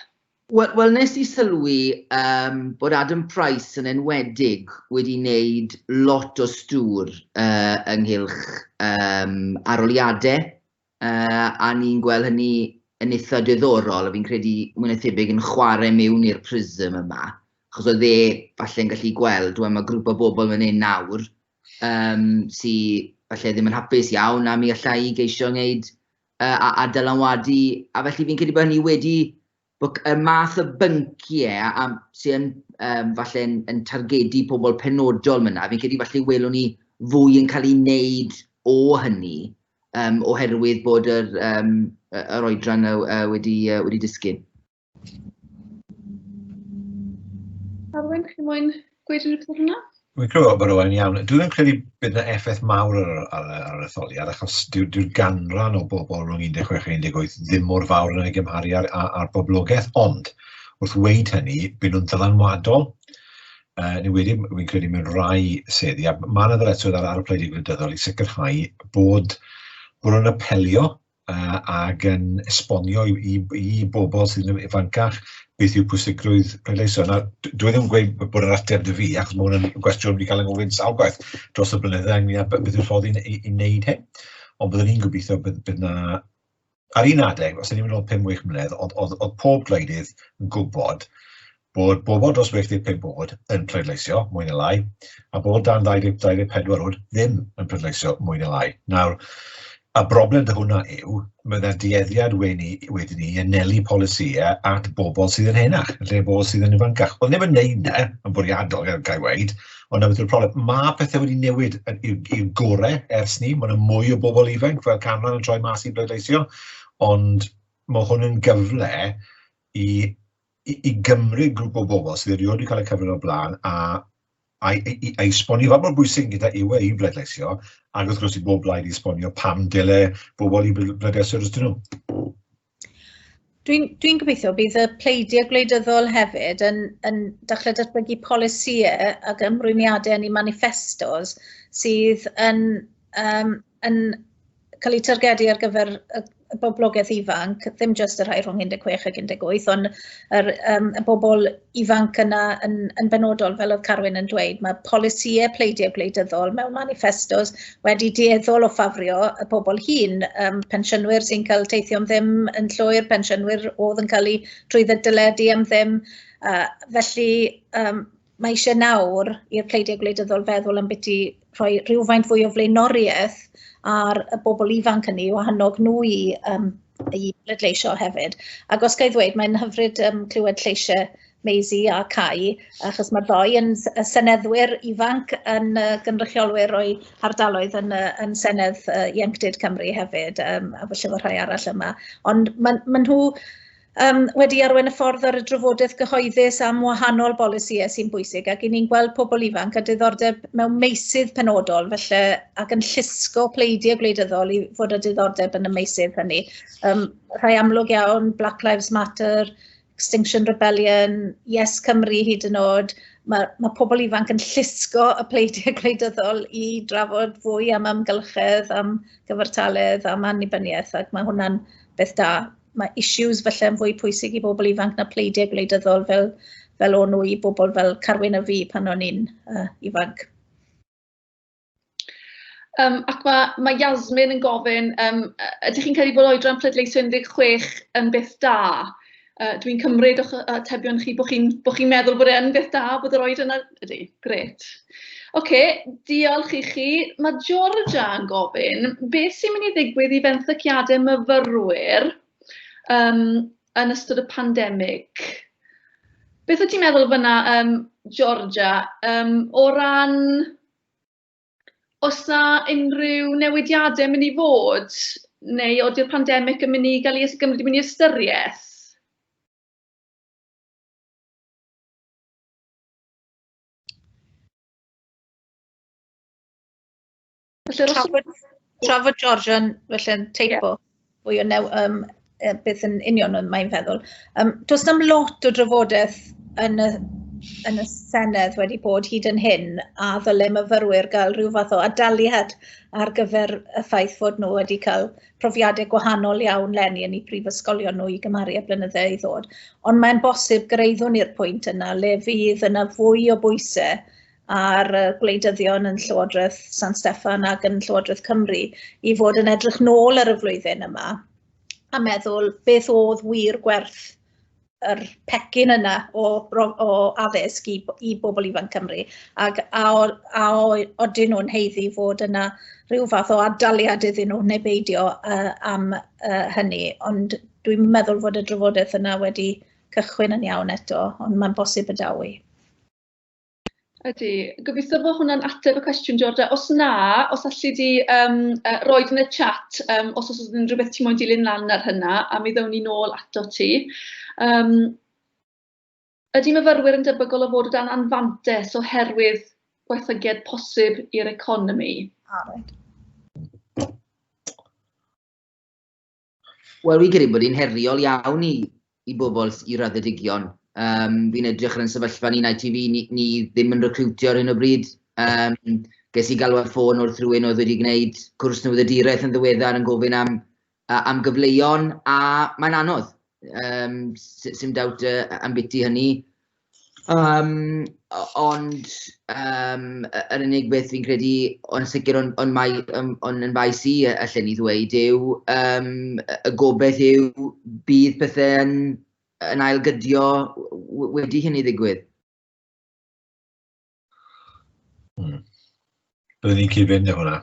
Wel wel nes i sylwi yym bod Adam Price yn enwedig wedi wneud lot o stŵr yy ynghylch yym arholiadau a ni'n gweld hynny yn eitha' diddorol, a fi'n credu mwy na thebyg yn chware mewn i'r prism yma, achos oedd e falle yn gallu gweld, wel ma' grŵp o bobl fan hyn nawr yym sy falle ddim yn hapus iawn a mi alla i geisio wneud yy a- a dylanwadu, a felly fi'n credu bod hynny wedi Bod y math o bynciau a, sydd yn um, falle yn, yn targedu pobl penodol myna, fi'n credu falle welwn ni fwy yn cael ei wneud o hynny, um, oherwydd bod yr, um, yr oedran uh, uh, wedi, uh, wedi disgyn. Arwen, chi moyn gweud rhywbeth am hwnna? Wi'n credu bod o'n iawn. Dwi'n yn credu bydd yna effaith mawr ar, ar, ar yr etholiad, achos dyw'r dyw ganran o bobl rhwng 16 a 18 ddim mor fawr yn ei gymharu ar, ar, ar boblogaeth, ond wrth weid hynny, bydd nhw'n ddylanwadol. Uh, ni wedi, fi'n credu mewn rhai seddi, a mae yna ddyletswydd ar, ar y pleidiau gwleidyddol i sicrhau bod, bod nhw'n apelio uh, ac yn esbonio i, i, i bobl sydd yn ifancach beth yw pwysigrwydd pleidleisio. Nawr, dwi ddim yn gweud bod yr ateb dy fi, achos mae hwnna'n gwestiwn wedi cael ei gofyn sawl gwaith dros y blynydde ynglyn â beth yw'r ffordd i, wneud hyn. Ond byddwn ni'n gobeithio bydd, bydd na... Ar un adeg, os ydym yn ôl 5-6 mlynedd, oedd, oedd, oedd pob gwleidydd yn gwybod bod bobl dros 85 oed yn pleidleisio, mwy neu lai, a bobl dan 20, 24 oed ddim yn pleidleisio, mwy neu lai. Nawr, y broblem dy hwnna yw, mae yna dueddiad wedi wedyn ni anelu polisïau at bobl sydd yn henach, lle bobl sydd yn ifancach. Ond ddim yn neud na, e, yn bwriadol, gael gael weid, ond na beth yw'r problem. Mae pethau wedi newid i'r gorau ers ni, mae yna mwy o bobl ifanc fel canran yn troi mas i bleidleisio, ond mae hwn yn gyfle i i, i gymryd grŵp o bobl sydd erioed wedi cael eu cyfrif o'r blaen a a, i, i, a esbonio fath mor bwysig gyda yw e i bleidleisio, ac wrth gwrs i bob blaid i esbonio pam dyle bobl i bleidleisio dros nhw. Dwi'n dwi gobeithio bydd y pleidiau gwleidyddol hefyd yn, yn dechrau datblygu polisïau ac ymrwymiadau yn eu manifestos sydd yn um, yn cael eu targedu ar gyfer y y boblogaeth ifanc, ddim jyst y rhai rhwng 16 ac 18, ond yr, um, y bobl ifanc yna yn, yn benodol, fel oedd Carwyn yn dweud, mae polisïau pleidiau gwleidyddol mewn manifestos wedi dieddol o ffafrio y bobl hun, um, pensiynwyr sy'n cael teithio'n ddim yn llwyr, pensiynwyr oedd yn cael eu trwy ddyledu am ddim, uh, felly um, mae eisiau nawr i'r pleidiau gwleidyddol feddwl am beth i rhoi rhywfaint fwy o flaenoriaeth ar y bobl ifanc hynny o hannog nhw i, um, i bleidleisio hefyd. Ac os gael ddweud, mae'n hyfryd um, clywed lleisiau Maisie a Cai, achos mae'r ddoi yn y seneddwyr ifanc yn uh, gynrychiolwyr o'i hardaloedd yn, uh, yn Senedd uh, Ieuenctid Cymru hefyd, um, a felly fod rhai arall yma. Ond maen ma nhw um, wedi arwain y ffordd ar y drafodaeth gyhoeddus am wahanol bolisïau sy'n bwysig ac i ni'n gweld pobl ifanc a diddordeb mewn meysydd penodol felly ac yn llusgo pleidiau gwleidyddol i fod â diddordeb yn y meysydd hynny. Um, rhai amlwg iawn, Black Lives Matter, Extinction Rebellion, Yes Cymru hyd yn oed, mae, mae pobl ifanc yn llusgo y pleidiau gwleidyddol i drafod fwy am amgylchedd, am gyfartaledd, am annibyniaeth ac mae hwnna'n beth da. mae issues falle yn fwy pwysig i bobl ifanc na pleidiau gwleidyddol fel, fel o'n nhw i bobl fel Carwyn a fi pan o'n i'n uh, ifanc. Um, ac mae, mae Yasmin yn gofyn, um, ydych chi'n credu bod oedran pleidleisio 16 yn beth da? Uh, Dwi'n cymryd o'ch atebion chi bod chi'n chi meddwl bod e'n beth da bod yr oed yna? Ydy, gret. Ocê, diolch i chi. Mae Georgia yn gofyn, beth sy'n mynd i ddigwydd i fenthyciadau myfyrwyr um, yn ystod y pandemig? Beth wyt ti'n meddwl fyna, um, Georgia, um, o ran os na unrhyw newidiadau mynd i fod, neu oeddi'r pandemig yn mynd i gael ei ysgymryd i mynd i ystyriaeth? Trafod, trafod George yn felly yn teipo yeah. fwy o new, um, beth yn union oedd mae'n feddwl. Um, does na'm lot o drafodaeth yn y, yn y Senedd wedi bod hyd yn hyn a ddyle myfyrwyr gael rhyw fath o adaliad ar gyfer y ffaith fod nhw wedi cael profiadau gwahanol iawn lenni yn eu prifysgolion nhw i gymaru â blynyddau i ddod. Ond mae'n bosib gyrraeddwn i'r pwynt yna le fydd yna fwy o bwysau ar gwleidyddion yn Llywodraeth San Steffan ac yn Llywodraeth Cymru i fod yn edrych nôl ar y flwyddyn yma a meddwl beth oedd wir gwerth yr pecyn yna o, o addysg i, i bobl ifanc Cymru ac a, o, a o, odyn nhw'n heiddi fod yna rhyw fath o adaliad iddyn nhw neu beidio uh, am uh, hynny. Ond dwi'n meddwl fod y drafodaeth yna wedi cychwyn yn iawn eto, ond mae'n bosib y dawi. Ydy. Gobeithio fod hwnna'n ateb y cwestiwn Georgia. Os na, os alli di um, uh, roed yn y chat um, os oes yn rhywbeth ti'n moyn dilyn lan ar hynna, a mi ddown ni nôl ato ti. Um, ydy myfyrwyr yn debygol o fod o dan anfantes oherwydd gwaethygiad posib i'r economi? Ah, right. Wel, fi'n credu bod hi'n heriol iawn i, i bobl i raddedigion. Um, fi'n edrych ar yn sefyllfa ni'n ITV, ni, ni ddim yn recriwtio ar hyn o bryd. Um, ges i galw ar ffôn wrth rhywun oedd wedi gwneud cwrs newyddiaduraeth yn ddiweddar yn gofyn am, uh, am gyfleuon a mae'n anodd. Um, Sym dawt uh, am biti hynny. Yym ond yym yr unig beth fi'n credu o'n sicr o'n o'n mai yym o'n yn faes i yy allen i ddweud yw yym y gobaith yw bydd pethe'n yn ail gydio w- w- wedi hynny ddigwydd. Hmm. Byddwn ni'n cyd-fynd efo hwnna.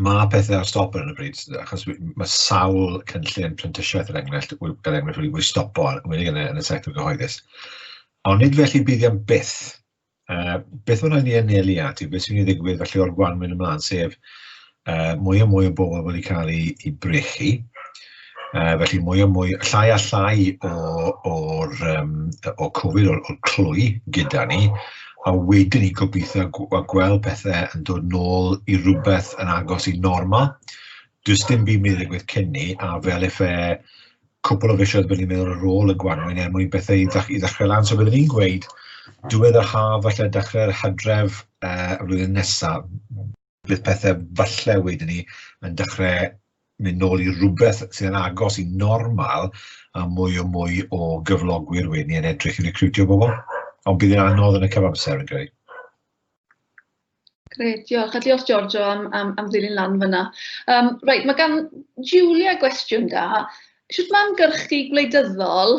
Mae pethau ar stop ar y bryd, achos mae sawl cynllun prentisiaeth yn er enghraifft, gan enghraifft wedi bod stopo ar wedi yn y, yn y sector gyhoeddus. Ond nid felly bydd am byth. Uh, beth mae'n rhaid ni anelu at yw beth sy'n ei ddigwydd felly o'r gwanwyn ymlaen, sef uh, mwy a mwy o bobl wedi cael ei, ei brechu, uh, felly mwy a mwy, llai a llai o'r um, o Covid, o'r, or clwy gyda ni, a wedyn ni gobeithio a gweld pethau yn dod nôl i rhywbeth yn agos i normal. Does dim byd mynd i gweith cyn ni, a fel efe cwpl o fisioedd byddwn ni'n meddwl ar ôl y gwanwyn er mwyn bethau i, ddech, i ddechrau lan. So byddwn ni'n gweud, diwedd yr haf, falle dechrau'r hydref uh, y flwyddyn nesaf, bydd pethe falle wedyn ni yn dechrau mynd nôl i rhywbeth sydd yn agos i normal a mwy o mwy o gyflogwyr wedyn ni yn edrych i recriwtio bobl. Ond bydd yn anodd yn y cyfamser yn greu. Gret, diolch. A diolch Giorgio am, am, am ddilyn lan fyna. Um, right, mae gan Julia gwestiwn da. Sut mae ymgyrchu gwleidyddol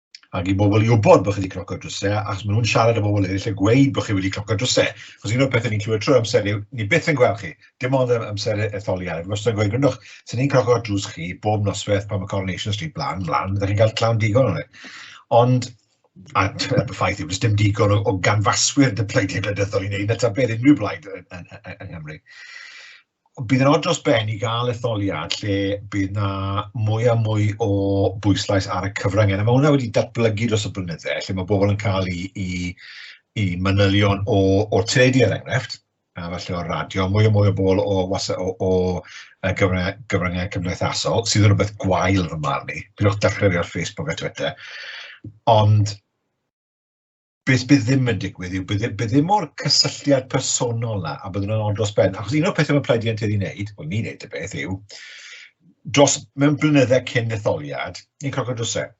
ac i bobl i wybod bod chi wedi cnocio drwsau, achos maen nhw'n siarad â bobl eraill a gweud bod chi wedi cnocio drwsau. Chos un o'r pethau ni'n clywed trwy amser yw, ni byth yn gweld chi, dim ond am amser etholiad. Ac os ydyn gweud, gwrndwch, sy'n ni'n cnocio drws chi bob noswaith pan mae Coronation Street blan, blan, byddwch chi'n cael clown digon o'n e. Ond, a y ffaith yw, does dim digon o, o ganfaswyr dy pleidiau gwleidyddol i wneud na ta beth unrhyw blaid yn, yn, yn, yn Nghymru. bydd yn od dros ben i gael etholiad lle bydd na mwy a mwy o bwyslais ar y cyfryngau. Mae hwnna wedi datblygu dros y blynydde, lle mae bobl yn cael i, i, i manylion o, o teledu er enghraifft, a falle o'r radio, mwy o mwy o bobl o, o, o, o gyfryngau, gyfryngau cymdeithasol, sydd yn rhywbeth gwael fy marn i. Pidwch dechrau fi ar Facebook a Twitter. Ond beth bydd ddim yn digwydd yw, bydd, bydd ddim o'r cysylltiad personol na, a bydd nhw'n ond dros ben. Achos un o'r pethau mae Plaid Ientyd i wneud, wel ni'n wneud y beth yw, dros mewn blynyddau cyn etholiad, ni'n croco drwsau.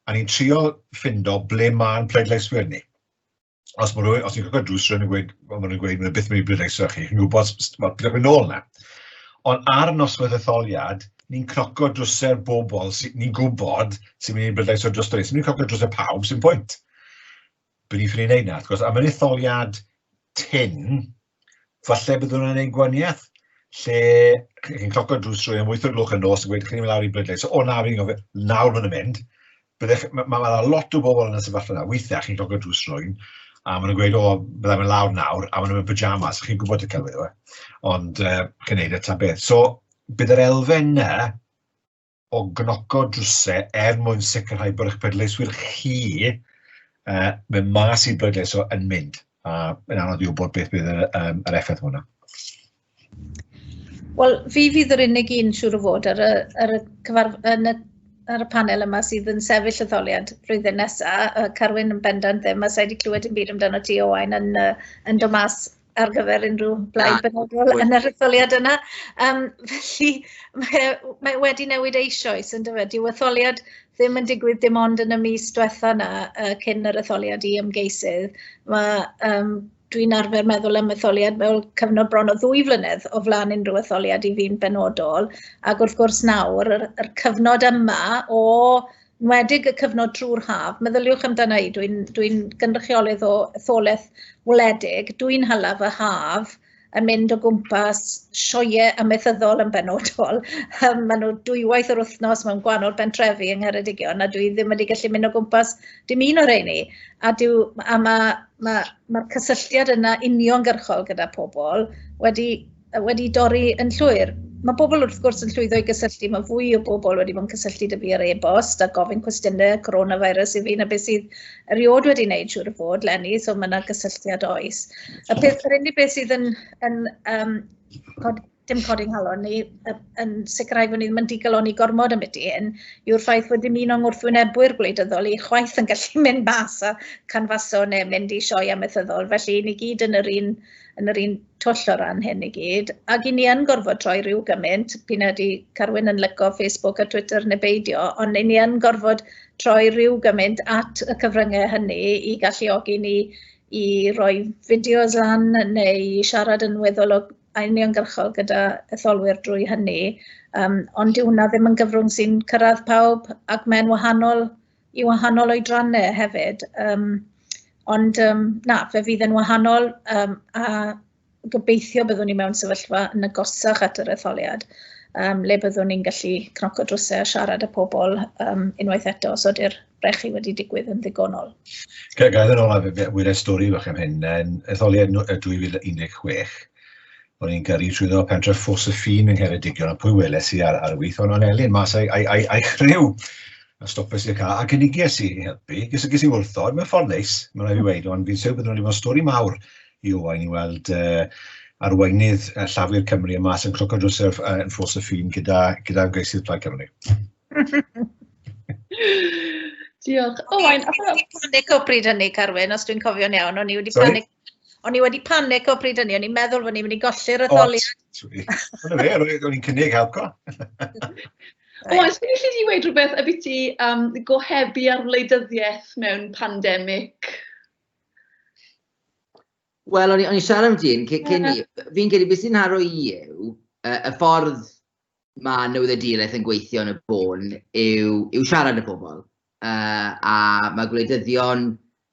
A ni'n trio ffindo ble mae'n pleidleiswyr ni. Os, mae rhywun, os ni'n croco drws, rwy'n gweud, mae rhywun gweud, mae'n byth mynd i bleidleisio chi, chi'n gwybod, mae'n gwybod, yn ôl na. Ond ar noswaith etholiad, ni'n cnoco drwser bobl, ni'n gwybod sy'n mynd i'n bleidlais o dros dweud, sy'n mynd i'n cnoco drwser pawb sy'n pwynt. Bydd ni'n ffynu neud na, gwrs, am yr etholiad tyn, falle bydd hwnna'n ein gwaniaeth, lle chi'n cnoco drws rwy'n am 8 o'r gloch yn nos yn gweud chi'n mynd lawr i bleidlais, so o nawr i'n gofio, nawr mae'n mynd, Byddech, mae ma, ma lot o bobl yn y sefyllfa yna, weithiau chi'n cael gwneud drws rwy'n, a maen nhw'n gweud, o, byddai fe'n lawr nawr, a maen nhw'n pyjamas, chi'n gwybod y celwydd yw e, ond uh, chi'n neud y ta beth. So, bydd yr elfen yna o gnoco drwsau er mwyn sicrhau bod eich pleidleiswyr chi uh, mewn mas i bleidleiso yn mynd, a yn anodd i wybod beth bydd yr, um, yr effaith hwnna. Wel, fi fydd yr unig un siŵr o fod ar y ar y cyfarf- yn y ar y panel yma sydd yn sefyll etholiad flwyddyn nesa, yy Carwyn yn bendant ddim, a sa i 'di clywed dim byd amdano ti Owain yn yy yn dod mas ar gyfer unryw blaid benodol yn yr etholiad yna, yym felly mae e w- mae e wedi newid eisioes yndyfe? Dyw etholiad ddim yn digwydd dim ond yn y mis dwetha 'na yy cyn yr etholiad i ymgeisydd, ma' yym dwi'n arfer meddwl am etholiad fel cyfnod bron o ddwy flynedd o flaen unrhyw etholiad i fi'n benodol. Ac wrth gwrs nawr, yr, yr cyfnod yma o nwedig y cyfnod drwy'r haf, meddyliwch amdana i, dwi'n dwi, gynrychiolydd o etholaeth wledig, dwi'n hala fy haf yn mynd o gwmpas sioe amaethyddol yn benodol. Um, maen nhw dwywaith yr wythnos mewn gwahanol bentrefi yng Ngheredigion a dwi ddim wedi gallu mynd o gwmpas dim un o'r rheini. A, dyw, a mae Mae, mae'r cysylltiad yna uniongyrchol gyda pobl wedi, wedi dorri yn llwyr. Mae pobl wrth gwrs yn llwyddo i gysylltu, mae fwy o bobl wedi bod yn cysylltu dy fi ar e-bost a gofyn cwestiynau coronavirus i fi na beth sydd erioed wedi wneud siŵr o fod, Lenny, so mae yna gysylltiad oes. Y peth, yr unig beth sydd yn, yn um, dim codi nghalon ni, yn sicrhau bod ni ddim yn digaloni gormod am beth hyn, yw'r ffaith bod dim un o'n wrthwynebwyr gwleidyddol i chwaith yn gallu mynd mas a canfaso neu mynd i sioe amaethyddol, felly ni gyd yn yr un, yn yr un twll o ran hyn i gyd, ac i ni yn gorfod troi rhyw gymaint, pyn ydy Carwyn yn lyco Facebook a Twitter neu beidio, ond i ni yn gorfod troi rhyw gymaint at y cyfryngau hynny i galluogi ni i roi fideos lan neu siarad yn weddol o a uniongyrchol gyda etholwyr drwy hynny, um, ond dyw hwnna ddim yn gyfrwng sy'n cyrraedd pawb ac mae'n wahanol i wahanol oedrannau hefyd. Um, ond um, na, fe fydd yn wahanol um, a gobeithio byddwn ni mewn sefyllfa yn agosach at yr etholiad um, le byddwn ni'n gallu cnoco drwsau a siarad â pobl um, unwaith eto os ydy'r rhaid chi wedi digwydd yn ddigonol. Gael yn ôl ar wyliau stori fach am hyn, yn etholiad 2016, o'n i'n gyrru trwy ddod pentref ffos y ffin yng Ngheredigion, a pwy weles i ar, ar y wyth, ond o'n Elin mas a'i, ai, ai, ai chryw, a stopes i'r cael, a gynigies i helpu, gys, gys i wrthod, mae'n ffordd neis, mae'n rhaid i weid, ond fi'n siw byddwn wedi bod stori mawr i Owain i weld uh, arweinydd uh, Llafur Cymru y mas yn cloco drws yn ffos y ffin gyda, gyda ymgeisydd Plaid Cymru. Diolch. O, Owain, a beth... O'n i'n panic o bryd hynny, Carwyn, os dwi'n cofio'n iawn. O'n i wedi panic... O'n i wedi panic o bryd hynny, o'n i'n meddwl bod ni'n mynd i golli'r etholiad. Dyna fe, o'n i'n cynnig helco. O, os ti'n gallu di wedi rhywbeth a beth ti um, gohebu ar wleidyddiaeth mewn pandemig? Wel, o'n i'n siarad am dyn, cyn i, fi'n credu beth sy'n haro i yw y ffordd mae newyddiaduraeth yn gweithio yn y bôn yw, yw siarad y pobl. Uh, a mae gwleidyddion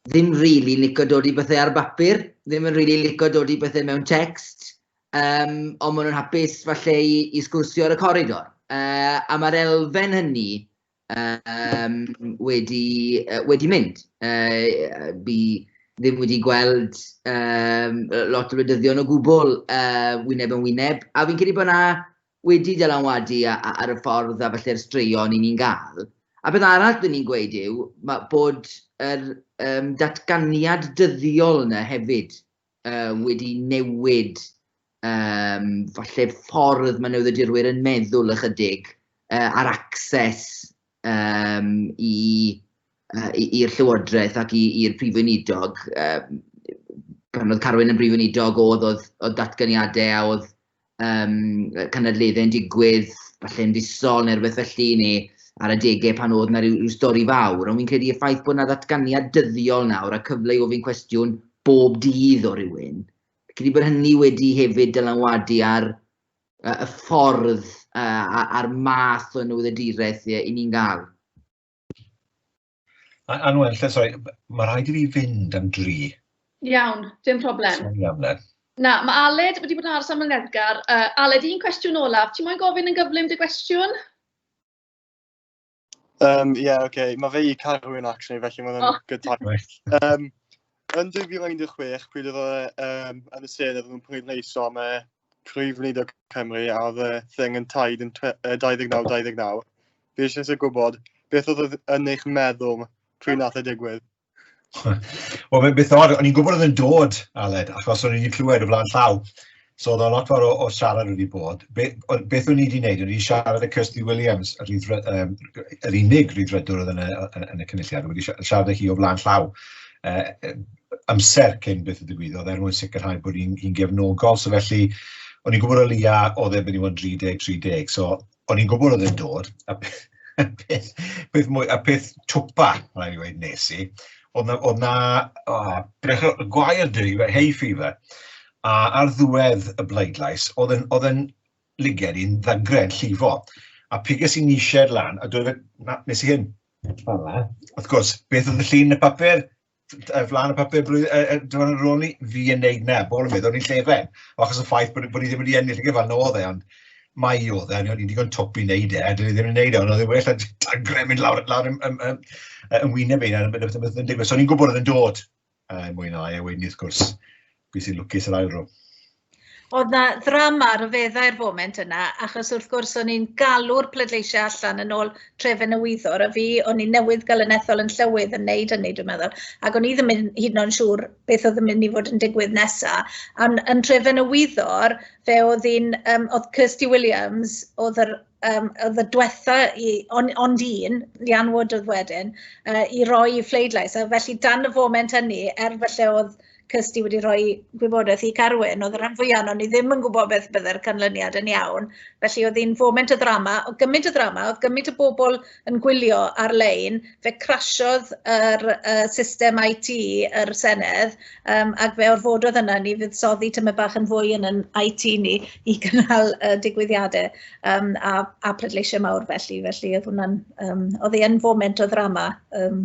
ddim rili really licio dod i bethau ar y bapur, ddim yn rili really licio dod i bethau mewn text, um, ond maen nhw'n hapus falle i, i sgwrsio ar y coridor. Uh, a mae'r elfen hynny um, wedi, uh, wedi mynd. Uh, fi ddim wedi gweld um, lot o wleidyddion o gwbl uh, wyneb yn wyneb, a fi'n credu bod yna wedi dylanwadu ar y ffordd a falle'r straeon i ni'n gael. A beth arall dyn ni'n gweud yw bod yr um, datganiad dyddiol yna hefyd yy, wedi newid um, falle ffordd mae newyddiadurwyr yn meddwl ychydig uh, ar access um, i uh, i'r Llywodraeth ac i'r Prif Weinidog. Um, pan oedd Carwyn yn Brif Weinidog, oedd, oedd, oedd datganiadau a oedd um, cynadleddau yn digwydd, falle yn fusol neu rhywbeth felly, neu ar adegau pan oedd yna rhyw, rhyw stori fawr, ond fi'n credu y ffaith bod yna ddatganiad dyddiol nawr a cyfle i ofyn cwestiwn bob dydd o rywun, fi'n credu bod hynny wedi hefyd dylanwadu ar uh, y ffordd uh, a'r math o newyddiaduraeth i ni'n gael. Anwen, sori, mae rhaid i fi fynd am dri. Iawn, dim problem. Sori am le. Na, mae Aled wedi bod yn aros am y neddgar. Uh, Aled, un cwestiwn olaf. Ti'n moyn gofyn yn gyflym dy gwestiwn? Um, yeah, oce. Okay. Mae fe i Carwyn, actually, felly mae'n oh. good time. Um, yn 2016, pryd oedd um, yn y sen oedd nhw'n pleidleisio am y Prif Weinidog Cymru a oedd y thing yn taid yn 29-29. Fi eisiau eisiau gwybod beth oedd yn eich meddwl pryd nath y e digwydd. Wel, mae'n beth o'r, o'n i'n gwybod oedd yn dod, Aled, achos o'n i'n wedi clywed o flaen llaw. So, oedd o'n lot fawr o, o siarad wedi bod. Be, o, beth o'n i wedi gwneud? O'n i wedi siarad y Kirsty Williams, yr, rydr, um, yr unig rydrydwr oedd yn y, yn, yn y cynulliad. O'n i wedi siarad â hi o flaen llaw. Uh, amser cyn beth y digwyddodd er mwyn sicrhau bod ni'n ni'n gefnogol, so felly o'n i'n gwybod o leia oedd e'n mynd i fod yn 30, 30, so o'n i'n gwybod oedd e'n dod, a peth peth mwy- a peth twpa, ma' raid fi weud, wnes i, oedd 'na oedd 'na o beth o gwair 'da fi, hay fever, a ar ddiwedd y bleidlais oedd e'n oedd e'n liged i'n ddagre, yn llifo, a piges i nishêd lan a dweud 'na, wnes i hyn, fel'na, wrth gwrs, beth oedd y llun yn y papur? ar flaen y papur blwyddyn, er, er, dwi'n meddwl, rôl ni, fi yn neud na, bol yn meddwl, ni'n llefen, achos y ffaith bod, bod ni ddim wedi ennill y gyfan, no dde, ond mae i o dde, ni'n digon twp i wneud e, dwi ddim yn wneud e, ond oedd e well a dagre mynd lawr, lawr yn, yn, yn, yn wyneb ein, yn beth yn digwydd. So ni'n gwybod oedd yn dod, uh, mwy na lai, a wedyn wrth gwrs, Pwy sy'n lwcus yr ail ro? Oedd na ddrama ryfeddau'r foment yna, achos wrth gwrs o'n i'n galw'r pleidleisiau allan yn ôl trefen y wyddor, a fi, o'n i newydd gael yn ethol yn llywydd yn neud hynny, dwi'n meddwl, ac o'n i ddim yn hyd yn oed siŵr beth oedd yn mynd i fod yn digwydd nesaf. Ond yn trefen y wyddor, fe oedd un, um, oedd Kirsty Williams, oedd yr um, oedd y diwetha i, on, ond un, Lian Wood oedd wedyn, uh, i roi i phleidlais. A felly dan y foment hynny, er felly oedd cys ti wedi rhoi gwybodaeth i Carwyn, oedd y rhan fwyaf o'n i ddim yn gwybod beth byddai'r canlyniad yn iawn. Felly oedd hi'n foment y ddrama, o gymaint y ddrama, oedd gymaint y bobl yn gwylio ar-lein, fe crasiodd yr uh, system IT yr Senedd, um, ac fe orfododd yna ni fydd soddi tyma bach yn fwy yn yn IT ni i gynnal uh, digwyddiadau um, a, a pleidleisiau mawr felly, felly oedd hwnna'n, um, oedd hi'n foment o ddrama um,